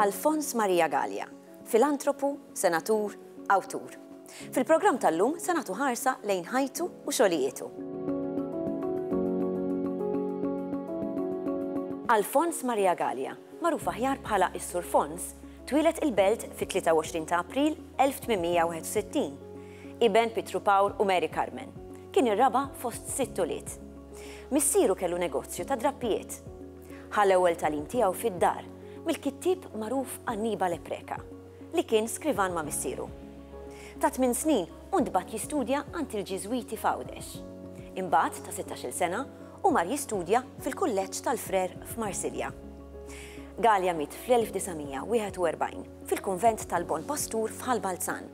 Alfons Maria Gallia, filantropu, senatur, awtur. Fil-programm tal-lum se nagħtu ħarsa lejn ħajtu u xogħlijietu. Alfons Maria Gallia, magħruf aħjar bħala is-Sur Fons, twieled il-Belt fit-23 ta' April 1861. iben Pietru Pawl u Mary Carmen. Kien ir-raba' fost sitt ulied. Missieru kellu negozju ta' drappijiet. Ħa l-ewwel tagħlim tiegħu fid-dar mill-kittieb magħruf Annibale Preca, li kien skrivan ma' missieru. Ta' tmien snin hu ntbagħat jistudja għand il-Ġiżwiti f'Għawdex. Imbagħad, ta' sittax-il sena, hu mar jistudja fil-Kulleġġ tal-Frer f'Marsilja. Galea miet fl-1941 fil-kunvent tal-Bon Pastur f'Ħal Balzan.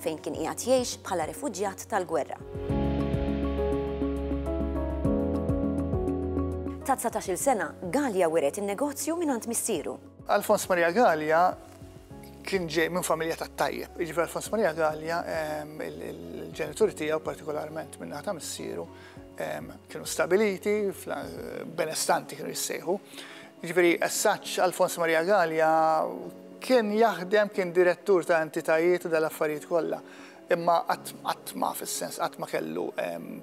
fejn kien qiegħed jgħix bħala refuġjat tal-gwerra. Ta' 19-il sena, Gallia wiret in-negozju mingħand missieru. Alfons Maria Gallia kien ġej minn familja ta' tajjeb. Iġifi Alfons Maria Gallia, ehm, il-ġenituri tiegħu partikolarment minn ta' missieru, ehm, kienu stabiliti, benestanti kienu jissejħu. Jiġifieri as-Saġġ Alfons Maria Galea kien jaħdem, kien direttur ta' entitajiet u dal-affarijiet kollha, imma qatt, qatt ma fis-sens, qatt ma kellu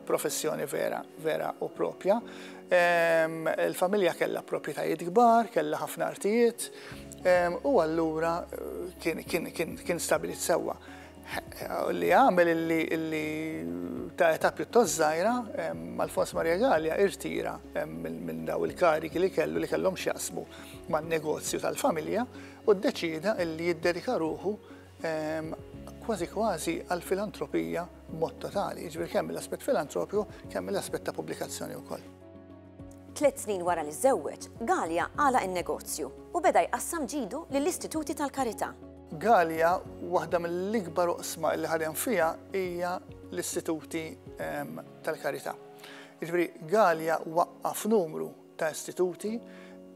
professjoni vera, vera u proprja. Il-familja kellha proprjetajiet kbar, kellha ħafna artijiet, u allura kien, kien, kien, kien stabbilit sewwa. li għamel illi ta' età pjuttost żgħira Alfons Maria Gallia irtira minn daw il-kariki li kellu li kellhom x'jaqsmu man-negozju tal-familja u ddeċieda illi jiddedika ruħu kważi kważi għall-filantropija b'mod totali, jiġifieri kemm mill-aspett filantropiku kemm mill-aspett ta' pubblikazzjoni wkoll. Tliet snin wara li żżewweġ, Galea għalaq in-negozju u beda jqassam ġidu lill-istituti tal-karità. Galea, waħda mill-ikbar oqsma li ħadem fiha hija l-istituti tal-karità. Jiġifieri Galea waqqaf numru ta' istituti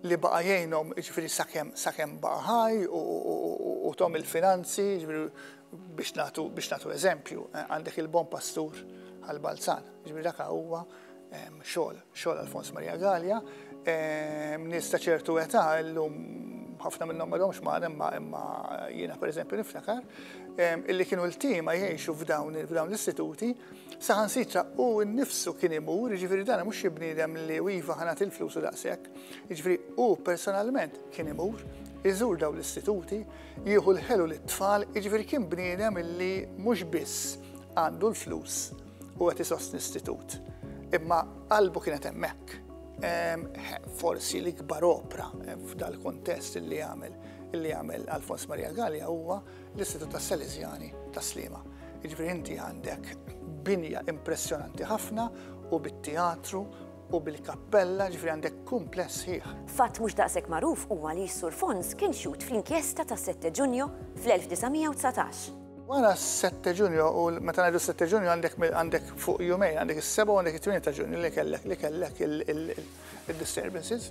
li baqa' jgħinhom jiġifieri sakemm sakemm baqa' ħaj u tom il-finanzi biex nagħtu biex nagħtu eżempju għandek il-Bon Pastur għall-Balzan. Jiġifieri dak huwa Xogħol, xogħol Alfons Maria Gallia. Nies ta' ċertu età llum ħafna minnhom ma domx magħna imma imma jiena pereżempju niftakar illi kienu l-tima jgħixu f'dawn f'dawn l-istituti saħansitra u nnifsu kien imur, jiġifieri dan mhux xi bniedem li iva ħanat il-flus u daqshekk. Jiġifieri u personalment kien imur iżur dawn l-istituti, jieħu l-ħelu lit-tfal, jiġifieri kien bniedem illi mhux biss għandu l-flus u qed isostni istitut. Imma qalbu kienet hemmhekk. Forsi l-ikbar opra f'dal-kontest li għamel li għamel Alfons Maria Gallia huwa l-Istitut tas Salesiani ta' Slima. Iġbir inti għandek binja impressjonanti ħafna u bit-teatru u bil-kappella ġifri għandek kumpless ħieħ. Fatt mhux daqshekk magħruf huwa li s-Sur Fons kien xut fl-inkjesta ta' 7 Ġunju fl-1919. Wara s-7 ta' Ġunju, u meta ngħidu s-7 ta' Ġunju għandek għandek fuq jumejn, għandek is-7 u għandek it-8 ta' Ġunju li kellek li kellek il-disturbances.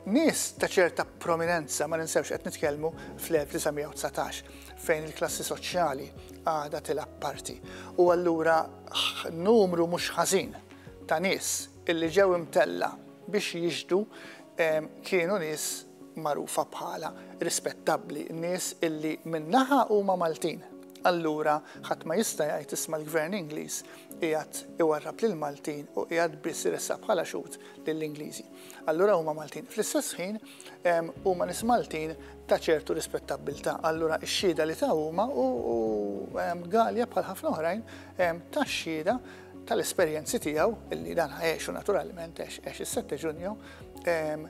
Nies ta' ċerta prominenza ma ninsewx qed nitkellmu fl-1919 fejn il-klassi soċjali għadha tilgħab parti. U allura numru mhux ħażin ta' nies illi ġew imtella biex jixdu kienu nies magħrufa bħala rispettabbli, nies illi minn naħa huma Maltin. Allura ħadd ma jista' jgħid isma' l-Gvern Ingliż qiegħed iwarrab lill-Maltin u qiegħed biss iressaq bħala xhud lill-Ingliżi. Allura huma Maltin. Fl-istess ħin huma nies Maltin ta' ċertu rispettabbiltà. Allura x-xhieda li ta' huma u Galja bħal ħafna oħrajn ta' xhieda tal-esperjenzi tiegħu illi dan ħajexu naturalment għax is-7 Ġunju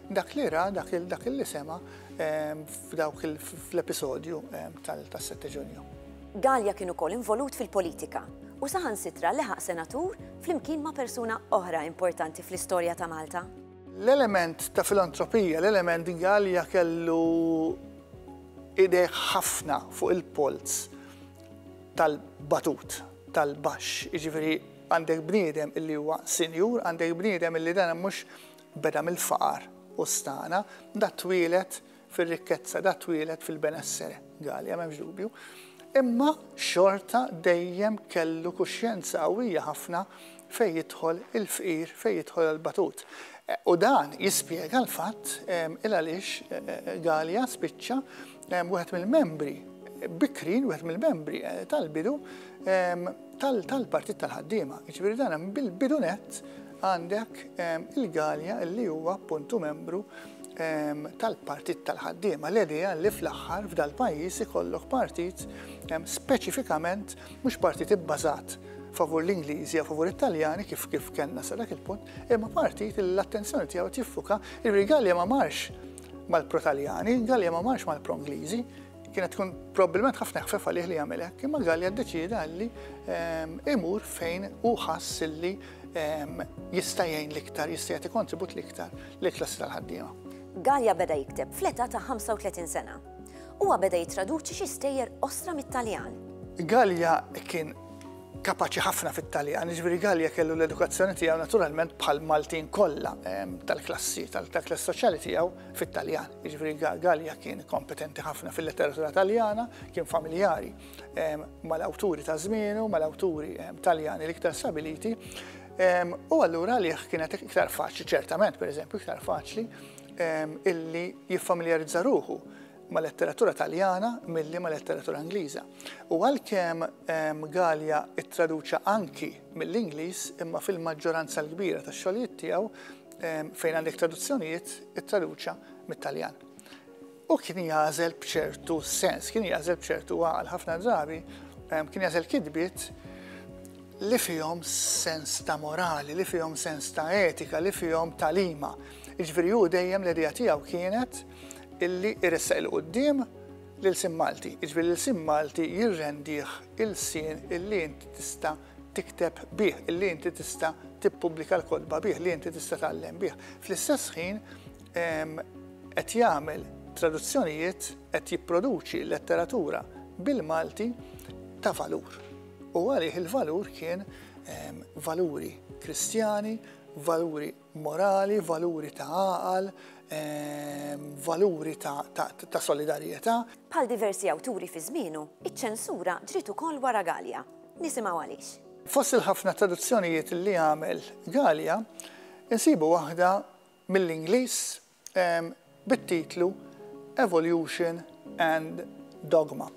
dak li ra dak li sema f'dawk l-episodju tas-7 Ġunju. Galea kien ukoll involut fil-politika u saħansitra leħaq senatur flimkien ma' persuna oħra importanti fl-istorja ta' Malta. L-element ta' filantropija, l-element Galea kellu idej ħafna fuq il-polz tal-batut tal-baxx, jiġifieri għandek bniedem illi huwa sinjur, għandek bniedem illi dan mhux beda mill-faqar u stagħna, da twieled fir-rikkezza, da twieled fil-benessere, Galea m'hemmx dubju, imma xorta dejjem kellu kuxjenza qawwija ħafna fejn jidħol il-fqir, fejn jidħol il-batut. U dan jispjega l-fatt il għaliex Galja spiċċa wieħed mill-membri bikrin wieħed mill-membri eh, tal-bidu tal-partit tal-ħaddiema. Ġifieri dan bil-bidu net għandek il-Galja li huwa appuntu membru tal-partit tal-ħaddiema. L-idea li fl-aħħar f'dal-pajjiż ikollok partit speċifikament Mhux partit ibbażat favur l-Ingliżi jew favur it-Taljani kif kif kellna sa dak il-punt, imma partit li l-attenzjoni tiegħu tiffuka li Gallia ma marx mal-pro-Taljani, Gallia ma marx mal-pro-Ingliżi, kienet tkun probabbilment ħafna ħfef għalih li jagħmel hekk, imma Gallia ddeċieda li ehm, imur fejn hu ħass li ehm, jista' jgħin l-iktar, jista' jagħti kontribut l-iktar lill-klassi tal-ħaddiema. Gallia beda jikteb fl-età ta' 35 sena. Huwa beda jittraduċi xi stejjer qosra mit-Taljan. Gallia kien kapaċi ħafna fit-Taljan, ġifieri Gallia kellu l-edukazzjoni tiegħu naturalment bħal Maltin kollha ehm, tal-klassi, tal-klass soċjali tiegħu fit-Taljan. Ġifieri Gallia kien kompetenti ħafna fil-letteratura Taljana, kien familjari ehm, mal-awturi ta' żmienu, mal-awturi ehm, Taljani l-iktar stabiliti. U allura li kienet iktar faċli, ċertament, per eżempju, iktar faċli illi jiffamiljarizza ruħu ma' letteratura Taljana milli ma' letteratura Ingliża. U għalkemm ehm, Galja ittraduċa anki mill-Ingliż imma fil-maġġoranza l-kbira tax-xogħlijiet tiegħu ehm, fejn għandek traduzzjonijiet ittraduċa mit-Taljan. U kien jagħżel b'ċertu sens, kien jagħżel b'ċertu għal ħafna drabi, kien jagħżel kidbiet li fihom sens ta' morali, li fihom sens ta' etika, li fihom talima. Iġveri hu dejjem l-idea tiegħu kienet illi iressaq il-qoddim lil sim Malti. Iġveri lil sim Malti jirrendih il-sin illi inti tista' tikteb bih, illi inti tista' tippubblika l-kodba bih, li inti tista' tgħallem bih. Fl-istess ħin qed jagħmel traduzzjonijiet, qed jipproduċi letteratura bil-Malti ta' valur. U għalih il-valur kien valuri kristjani, valuri morali, valuri ta' għaqal, valuri ta' solidarjetà. Bħal diversi awturi fi żmienu, iċ-ċensura ġriet ukoll wara Galea. Nisimgħu għaliex. Fost il-ħafna traduzzjonijiet li għamel Galea, insibu waħda mill-Ingliż, bit-titlu Evolution and Dogma.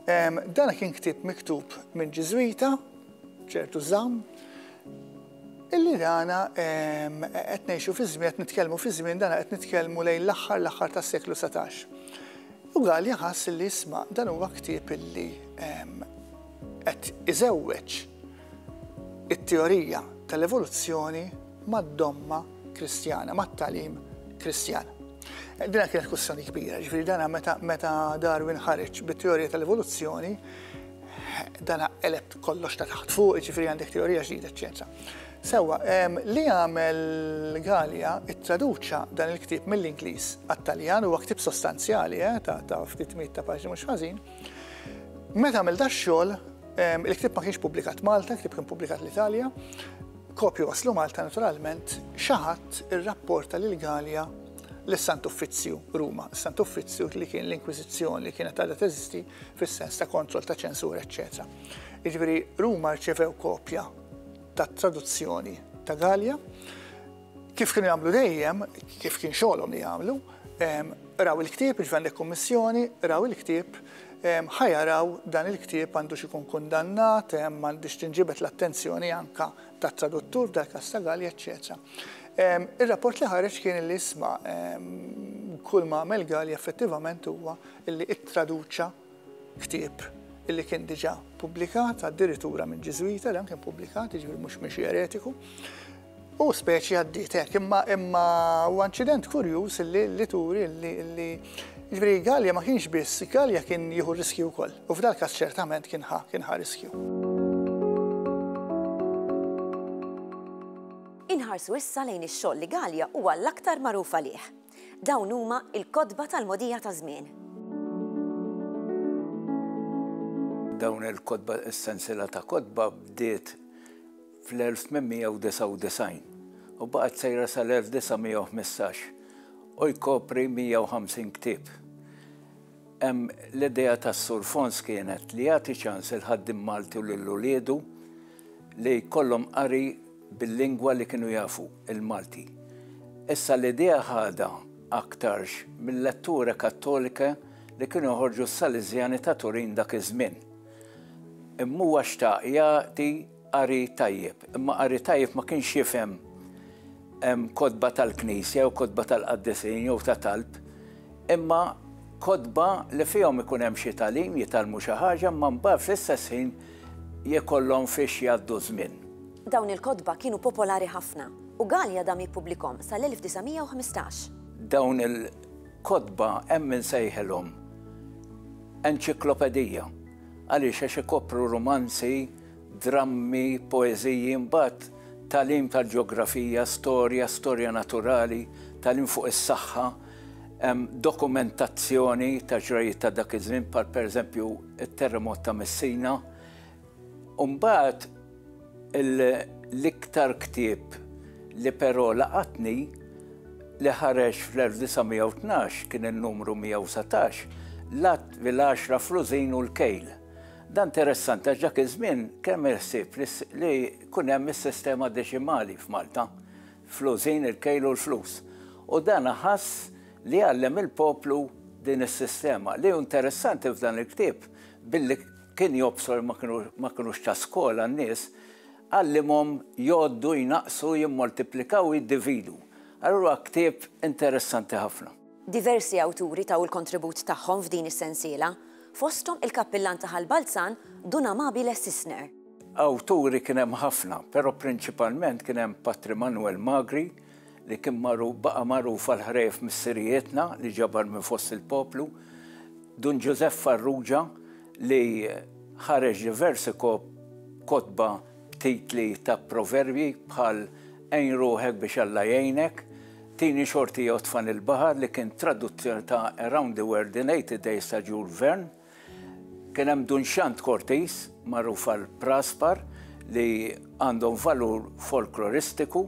Dan kien ktieb miktub minn Ġiżwita, ċertu Zamm, illi dana qed ngħixu fi żmien, qed nitkellmu fi żmien dana qed nitkellmu lejn l-aħħar l-aħħar tas-seklu satax. U Gallia ħass li isma' dan huwa ktieb illi qed iżewweġ it-teorija tal-evoluzzjoni mad-domma Kristjana, mat-tagħlim Kristjan. Dina kienet kussjoni kbira, ġifieri dana meta, meta Darwin ħareġ bit-teorija tal-evoluzzjoni, dana eleb kollox ta' taħt fuq, ġifieri għandek teorija ġdida, eċċetera. Sewa, li għamel Gallia it-traduċa dan il-ktib mill-Ingliż għat-Taljan huwa ktib sostanzjali eh, ta' ftit mit ta' paġni mhux ħażin, Meta għamil da xogħol, il-ktieb ma kienx pubblikat Malta, il-ktieb kien pubblikat l-Italja, kopju waslu Malta naturalment, xaħat ir-rapporta lil Galja l-Sant Uffizzju Ruma, Sant Uffizzju li kien l-Inkwizizzjoni li kienet għadha teżisti fis-sens ta' kontroll ta' ċensur, eċċetera. Jiġifieri Ruma rċevew kopja tat traduzzjoni ta' Galja, Kif kienu jagħmlu dejjem, kif kien xogħolhom li jagħmlu, raw il-ktieb, jiġifieri għandek kummissjoni, raw il-ktieb, ħa jaraw dan il-ktieb għandux ikun kundannat, għandhiex tinġibed l-attenzjoni anke tat-traduttur, f'dal każ ta' Galli, eċċetera. Ir-rapport li ħareġ kien illi isma' kull ma għamel Galli effettivament huwa illi ttraduċa Ktieb li kien diġà pubblikat addirittura minn Ġiżwita li kien pubblikat, jiġifieri mhux minn xi eretiku. U speċi għaddiet hekk, imma imma huwa inċident kurjuż li li turi li ġifieri Gallia ma kienx biss, Gallia kien jieħu riskju wkoll. U f'dal każ ċertament kien ħa kien ħa riskju. Inħarsu issa lejn ix-xogħol li Gallia huwa l-aktar magħruf għalih. Dawn huma l-kotba tal-mogħdija taż-żmien. Dawn il-kotba, is-sensiela ta' kotba bdiet fl-1899 u baqgħet sejra sal-1915 u jkopri 150 ktieb. L-idea tas-Sur Fons kienet li jagħti ċans il-ħaddiem Malti u lil uliedu li jkollhom qari bil-lingwa li kienu jafu, il-Malti. Issa l-idea ħadha aktarx mil-letture kattolike li kienu joħorġu s-Saliżjani ta' Turin dak iż-żmien. Imma huwa xtaq jagħti Qari tajjeb, imma qari tajjeb ma kienx jifhem kotba tal-knisja jew kotba tal-qaddisin jew ta' talb, imma kotba li fihom ikun hemm xi tagħlim, jitgħallmu xi ħaġa, imma mbagħad fl-istess ħin jkollhom fiex jgħaddu ż-żmien. Dawn il-kotba kienu popolari ħafna, u Galea dam jippublikhom sal-1915. Dawn il-kotba hemm min sejħilhom enċiklopedija. Għaliex? Għax ikopru rumanzi, drammi, poeżiji, imbagħad tagħlim tal-ġeografija, storja, storja naturali, tagħlim fuq is-saħħa, dokumentazzjoni ta' ġrajjiet ta' dak iż-żmien bħal pereżempju t-terremot ta' Messina. Umbagħad l-iktar ktieb li però laqatni li ħareġ fl-1912 kien in-numru 119 L-Għadd bil-Għaxra Frużin u l-Kejl. Dan interessanti għax dak iż-żmien kemm il-ħsieb li jkun hemm is-sistema deċimali f'Malta, fl-użin, il-kejl u l-flus. U dan ħass li għallem il-poplu din is-sistema. Li hu interessanti f'dan il-ktieb, billi kien jobsor ma kinux ta' skola n-nies, għallimhom jgħoddu, jnaqqsu, jimmoltiplikaw u jiddividu. Allura ktieb interessanti ħafna. Diversi awturi taw il-kontribut tagħhom f'din is-sensiela, fosthom il-Kappillan ta' Ħal Balzan, Dun Amabile Sisner. Awturi kien hemm ħafna, però prinċipalment kien hemm Patri Manwel Magri li kien magħruf baqa' magħruf għal ħrejjef missirijietna li ġabar minn fost il-poplu, Dun Ġużepp Farrugia li ħareġ diversi kotba, b'titli ta' proverbji bħal Għin ruħek biex Alla jgħinek, Tini xorti jew Tfani l-baħar li kien traduzzjoni ta' Around the World in Eighty Days ta' Jules Verne. Kien hemm Dunxant Cortis, magħruf għal Praspar, li għandhom valur folkloristiku,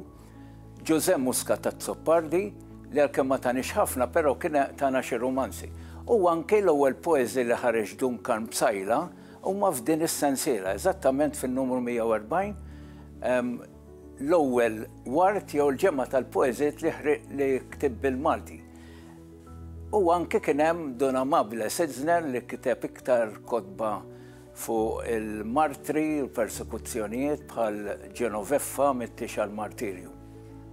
Ġużè Musca t'Azzopardi, li għalkemm ma tanix ħafna però kien tana xi rumanzi. U anke l-ewwel poeżi li ħareġ Duncan Psaila, Huma f'din is-sensiela, eżattament fin-numru 140, l-ewwel ward jew il-ġemgħa tal-poeżijiet li ktieb bil-Malti. U anke kien hemm Dun Amabile Sitzner li kiteb iktar kotba fuq il-martri u l-persekuzzjonijiet bħal Genoveffa mit-tiex għall-martirju.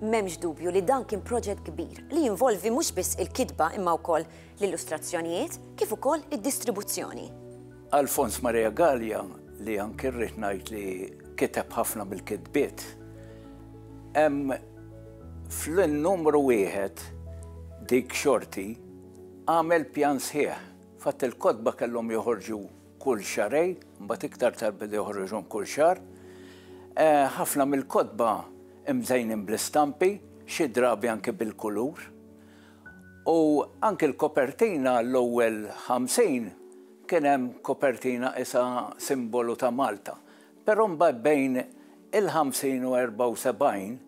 M'hemmx dubju li dan kien proġett kbir li jinvolvi mhux biss il-kitba imma wkoll l-illustrazzjonijiet kif ukoll id-distribuzzjoni. Alfons Maria Galea, li anki rrid ngħid li kiteb ħafna mill-kitbiet, hemm fl-numru wieħed dik xorti għamel pjan sħiħ. Fatt il-kotba kellhom joħorġu kull xarej, mbagħad iktar tal-bidi joħorġhom kull xar. Eh, ħafna mill-kotba imżejnin bl-istampi, xi drabi anke bil-kulur. U anki l-kopertina għall-ewwel 50 kien hemm kopertina qisha simbolu ta' Malta. Però mbagħad bejn il-50 u 74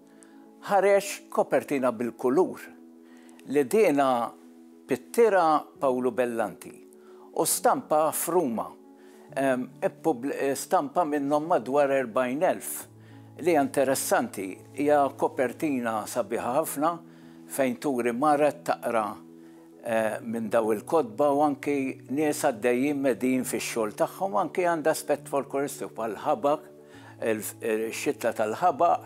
ħareġ kopertina bil-kulur li dienha pittira Pawlu Bellanti. u stampaha f'Ruma. Stampa minnhom madwar 40,000. Li hija interessanti hija kopertina sabiħa ħafna fejn turi mara qed taqra minn dawn il-kotba u anki nies għaddejjin medijin fix-xogħol tagħhom u anki għandha aspett folkloristiku bħal ħabaq, ix-xitla tal-ħabaq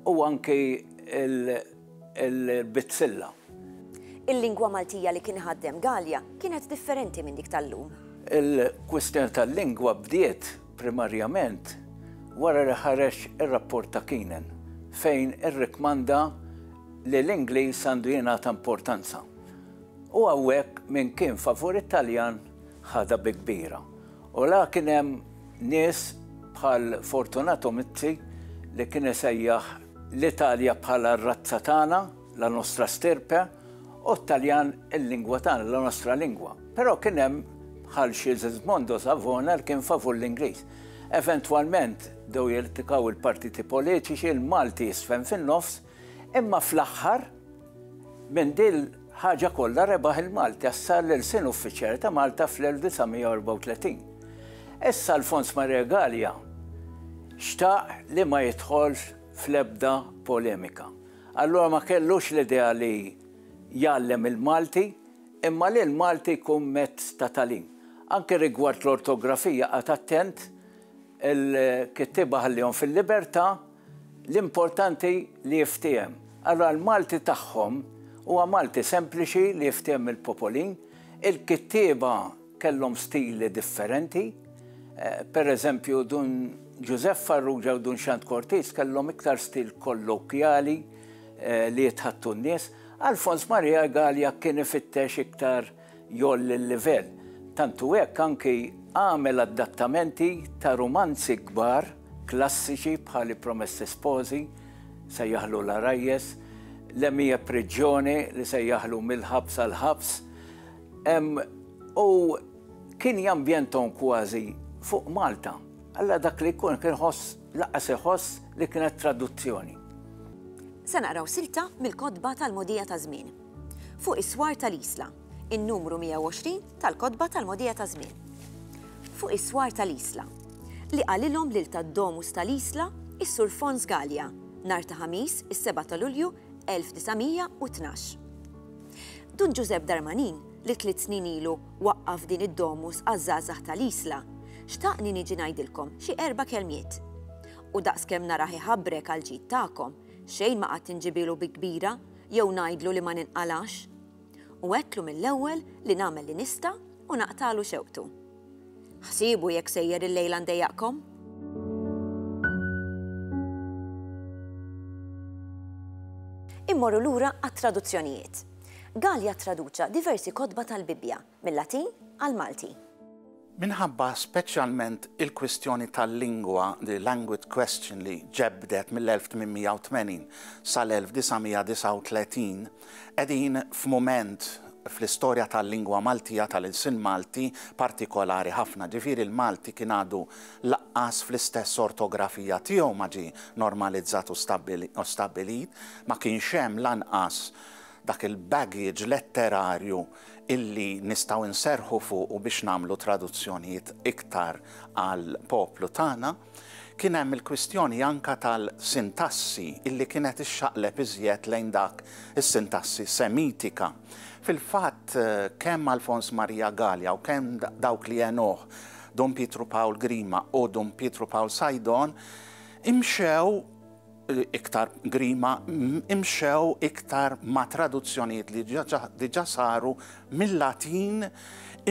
u anki l. il-bizzilla. Il-lingwa Maltija li kien iħaddem Galea kienet differenti minn dik tal-lum. Il-kwistjoni tal-lingwa bdiet primarjament wara li ħareġ ir-rapport ta' Keenan fejn irrikkmanda li l-Ingliż għandu jingħata importanza. U hawnhekk min kien favur it-Taljan ħadha bi kbira. U la kien hemm nies bħal Fortunato Mizzi li kien isejjaħ L-Italja bħala r-razza tagħna, la nostra stirpe, u t-Taljan il-lingwa tagħna, la nostra lingua. Però kien hemm bħal Sigismondo Savona li kien favur l-Ingliż. Eventwalment bdew jiltikaw il-partiti politiċi, il-Malti jisfen fin-nofs, imma fl-aħħar, Minn dil ħaġa kollha rebaħ il-Malti għax sar l-Ilsien Uffiċjali ta' Malta fl-1934. Issa Alfons Maria Galea xtaq li ma jidħolx fl-ebda polemika. Allura ma kellux l-idea li jgħallem il-Malti imma li l-Malti jkun mezz ta' tagħlim. Anke rigward l-ortografija qagħad attent il-kittieba ħallihom fil-libertà, L-importanti li jiftiehem. Ara l-Malti tagħhom, huwa Malti sempliċi li jiftiehem mill-popolin. Il-kittieba kellhom stili differenti. Per eżempju, Dun Ġużepp Farrugia u Dun Xand Cortis kellhom iktar stil kollokjali li jitħaddtu n-nies. Alfons Maria Egalia kien ifittex iktar Jgħolli l-livell. Tant hu hekk anki għamel adattamenti ta' rumanzi kbar klassiċi bħal I Promessi Sposi, sejjaħlu L-Għarajjes, Le mie prigione li sejjaħlu Mill-Ħabs għall-Ħabs. U kien jambjenthom kważi fuq Malta. Alla dak li jkun kien iħoss, lanqas iħoss li kienet traduzzjoni. Se naqraw silta mill-kotba tal-mogħdija taż-żmien. Fuq is-swar tal-Isla, in-numru 120 tal-Kotba tal-Mogħdija taż-Żmien. Fuq is-swar tal-Isla, li qalilhom lil tad-Domus tal-Isla is-Sur Fons Galea nhar ta' Ħamis is-7 ta' Lulju 1912. Dun Ġużepp Darmanin li tliet snin ilu waqqaf din id-Domus għaż-żgħażagħ tal-Isla, xtaqni niġi ngħidilkom xi erba' kelmiet. U daqskemm narah iħabbrek għall-ġid tagħkom, xejn ma qatt inġibielu bi kbira Jew ngħidlu li ma ninqalgħax? U għedtlu mill-ewwel li nagħmel li nista' u naqtagħlu xewqtu. Ħsiebu jekk sejjer illejla ndejjaqkom? Immorru lura għat-traduzzjonijiet. Gallia ttraduċa diversi kotba tal-Bibbja. mil-Latin għall-Malti. Minħabba speċjalment il-kwistjoni tal-lingwa, the language question, li ġebbdet mill-1880 sal-1939, qegħdin f'mument fl-istorja tal-lingwa Maltija, tal-ilsien Malti, partikolari ħafna. Ġifieri l-Malti kien għadu laqqas fl-istess ortografija tiegħu ma ġie normalizzat u stabbilit, ma kienx hemm lanqas dak il-baggage letterarju, illi nistgħu nserrħu fuqu biex nagħmlu traduzzjonijiet iktar għall-poplu tagħna, kien hemm il-kwistjoni anke tal-sintassi illi kienet ixxaqleb iżjed lejn dak is-sintassi Semitika. Fil-fatt, kemm Alfons Marija Galea u kemm dawk li għenuh Dun Pietru Pawl Grima u Dun Pietru Pawl Sajdon imxew iktar grima imxew iktar ma' traduzzjonijiet li diġà saru mil-Latin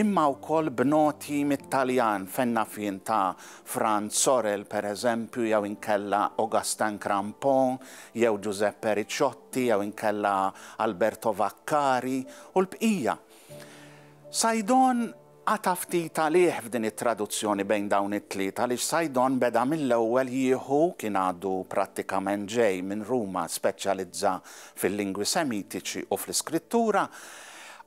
imma wkoll b'noti mit-Taljan fejn naf jien ta' Franz Sorel pereżempju jew inkella Augustin Crampon jew Giuseppe Ricciotti jew inkella Alberto Vaccari u l-bqija. Saidon Qata' ftit għalih f'din it-traduzzjoni bejn dawn it-tliet għaliex Saidon beda mill-ewwel jieħu, kien għadu prattikament ġej minn Ruma, speċjalizza fil-lingwi Semitiċi u fl-Iskrittura,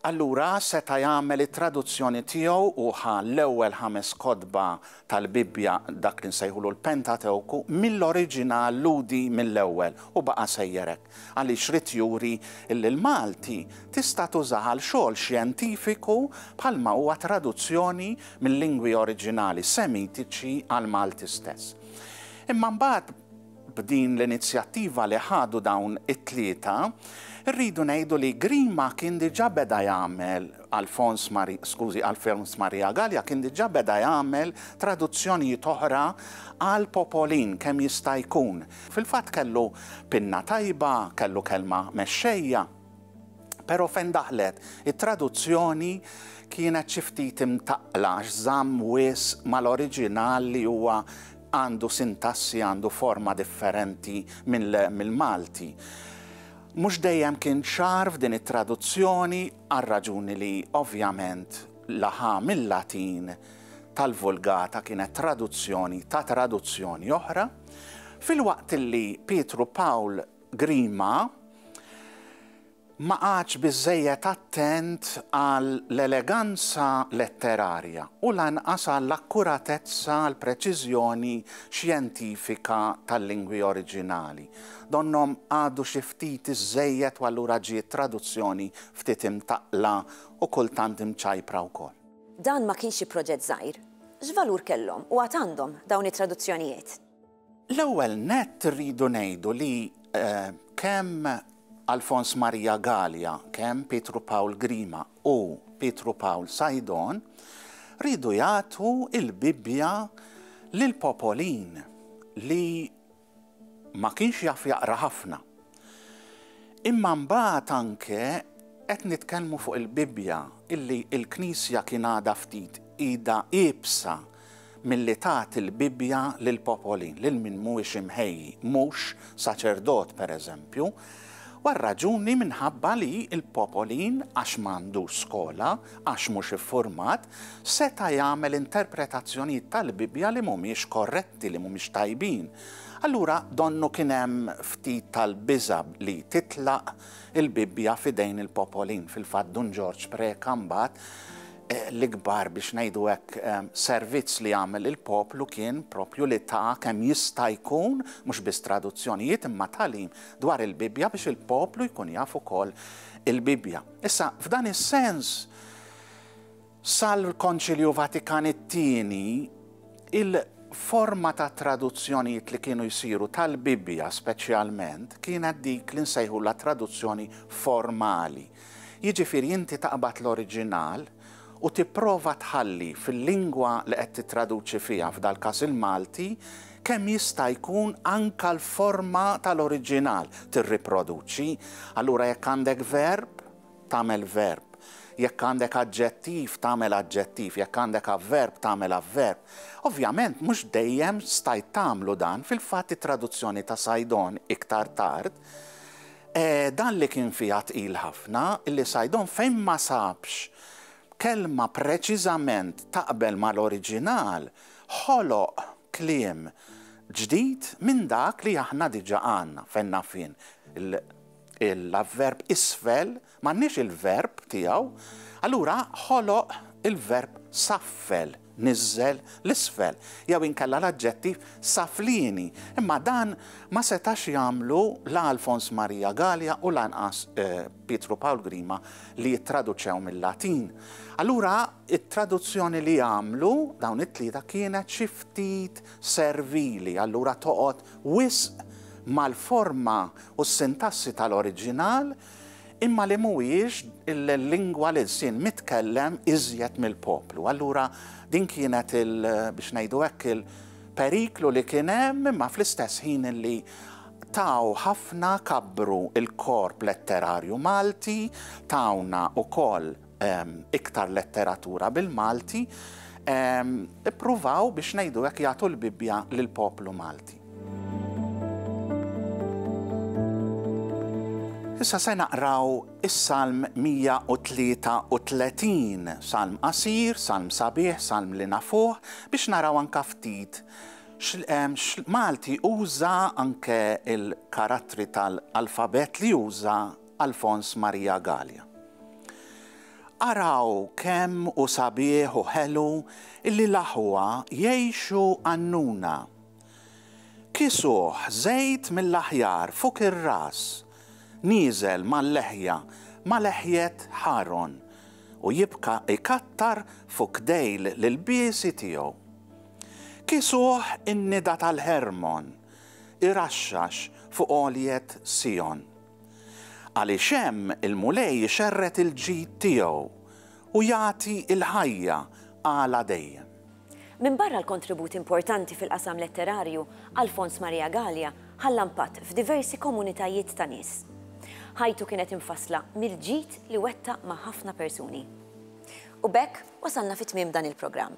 allura seta' jagħmel it-traduzzjoni tiegħu u ħa l-ewwel ħames kotba tal-Bibbja, dak li nsejħulu l-Pentatewku, mill-oriġinal lhudi mill-ewwel u baqa' sejjer hekk. għaliex ried juri li l-Malti tista' tuża għal xogħol xjentifiku bħalma huwa traduzzjoni mil-lingwi oriġinali Semitiċi għall-Malti stess. Imma mbagħad b'din l-inizjattiva li ħadu dawn it-tlieta, rridu ngħidu li Grima kien diġà beda jagħmel Alfons Mari, skużi, Alfons Maria Gallia kien diġà beda jagħmel traduzzjonijiet oħra għal popolin kemm jista' jkun. Fil-fatt kellu pinna tajba, kellu kelma mexxejja, però fejn daħlet it-traduzzjoni kienet xi ftit imtaqqla għax żamm wisq mal-oriġinal li huwa għandu sintassi, għandu forma differenti mill-Malti. Mhux dejjem kien ċar f'din it-traduzzjoni għar-raġuni li ovvjament la ħa mil-Latin tal-Vulgata kienet traduzzjoni ta' traduzzjoni oħra, Filwaqt li Pietru Pawl Grima ma qagħadx biżżejjed attent għall-eleganza letterarja u lanqas għall-akkuratezza, għall-preċiżjoni xjentifika tal-lingwi oriġinali, donnhom għadu xi ftit iżżejjed u allura ġiet traduzzjoni ftit imtaqqla u kultant imċajpra wkoll. Dan ma kienx xi proġett żgħir. X'valur kellhom, u għad għandhom, dawn it-traduzzjonijiet? L-ewwel nett irridu ngħidu li kemm Alfons Maria Galea, kemm Pietru Pawl Grima u Pietru Pawl Saidon riedu jagħtu l-Bibbja lill-popolin li Ma kienx jaf jaqra ħafna. Imma mbagħad anke qed nitkellmu fuq il-Bibbja illi l-Knisja kien għadha ftit idha iebsa milli tagħti l-Bibbja lil popolin, lil min mhuwiex imħejji, mhux saċerdot pereżempju, u r-raġuni minħabba li l-popolin għax ma għandux skola, għax mhux iffurmat, seta' jagħmel interpretazzjonijiet tal-Bibbja li mhumiex korretti. effetti li mhumiex tajbin, allura donnu kien hemm ftit tal-biża' li titlaq il-Bibbja f'idejn il-popolin. Fil-fatt Dun Ġorġ preka mbagħad l-ikbar biex ngħidu hekk servizz li għamel lill-poplu kien proprju li ta kemm jista' jkun mhux biss traduzzjonijiet imma tagħlim dwar il-Bibbja biex il-poplu jkun jaf ukoll il-Bibbja. Issa f'dan is-sens Sal-Konċilju Vatikan it-Tieni, il-forma ta' traduzzjonijiet li kienu jsiru tal-Bibbja speċjalment kienet dik li nsejħulha traduzzjoni formali, jiġifieri inti taqbad l-oriġinal u tipprova tħalli fil-lingwa li qed tittraduċi fiha, f'dal-każ il-Malti, kemm jista' jkun anke l-forma tal-oriġinal tirriproduċi. Allura jekk għandek verb, tagħmel verb. Jekk għandek aġġettiv, tagħmel aġġettiv. Jekk għandek avverb, tagħmel avverb. Ovvjament, mhux dejjem stajt tagħmlu dan, fil-fatt it-traduzzjoni ta' Saidon iktar tard, dan li kien fiha tqil ħafna, li Saidon fejn ma sabx kelma preċiżament taqbel mal-oriġinal, ħoloq kliem ġdid minn dak li aħna diġà għandna, fejn naf jien, l-avverb isfel m'għandniex il-verb tiegħu, allura ħoloq il-verb saffel, niżżel 'l isfel, jew inkella l-aġġettiv saflieni, imma dan ma setax jagħmlu la Alfons Maria Galea u lanqas Pietru Pawl Grima li jittraduċew mil-Latin. Allura t-traduzzjoni li għamlu dawn it-tlieta kienet xi ftit servili allura toqgħod wisq mal-forma u s-sintassi tal-oriġinal imma li mhuwiex il-lingwa l-ilsien mitkellem iżjed mill-poplu. Allura din kienet il, biex ngħidu hekk, il-periklu li kien hemm imma fl-istess ħin li taw ħafna kabbru l-korp letterarju Malti, tawna wkoll iktar letteratura bil-Malti, ippruvaw biex ngħidu hekk jagħtu l-Bibbja lill-poplu Malti. Issa se naqraw is-Salm 133, salm qasir, salm sabiħ, salm li nafuh, biex naraw anka ftit Malti uża anke il-karattri tal-alfabet li uża Alfons Maria Galea. Araw kemm hu sabiħ u ħelu li l-aħwa jgħixu għannuna. Kisuh żejt mill-aħjar fuq ir-ras, nieżel mal-leħja ma' leħjet Ħaron u jibqa' jkattar fuq dejl l-ilbiesi tiegħu. Kisuh in-nida tal-Ħermon iraxxax fuq għoljiet Sijon. Għaliex hemm il-Mulej ixerred il-ġid tiegħu u jagħti l-ħajja għala dejjem. Minbarra l-kontribut importanti fil-qasam letterarju, Alfons Maria Galea ħalla mpatt f'diversi komunitajiet ta' nies. Ħajtu kienet imfassla mill-ġid li wettaq ma' ħafna persuni. U b'hekk wasalna fi tmiem dan il-programm.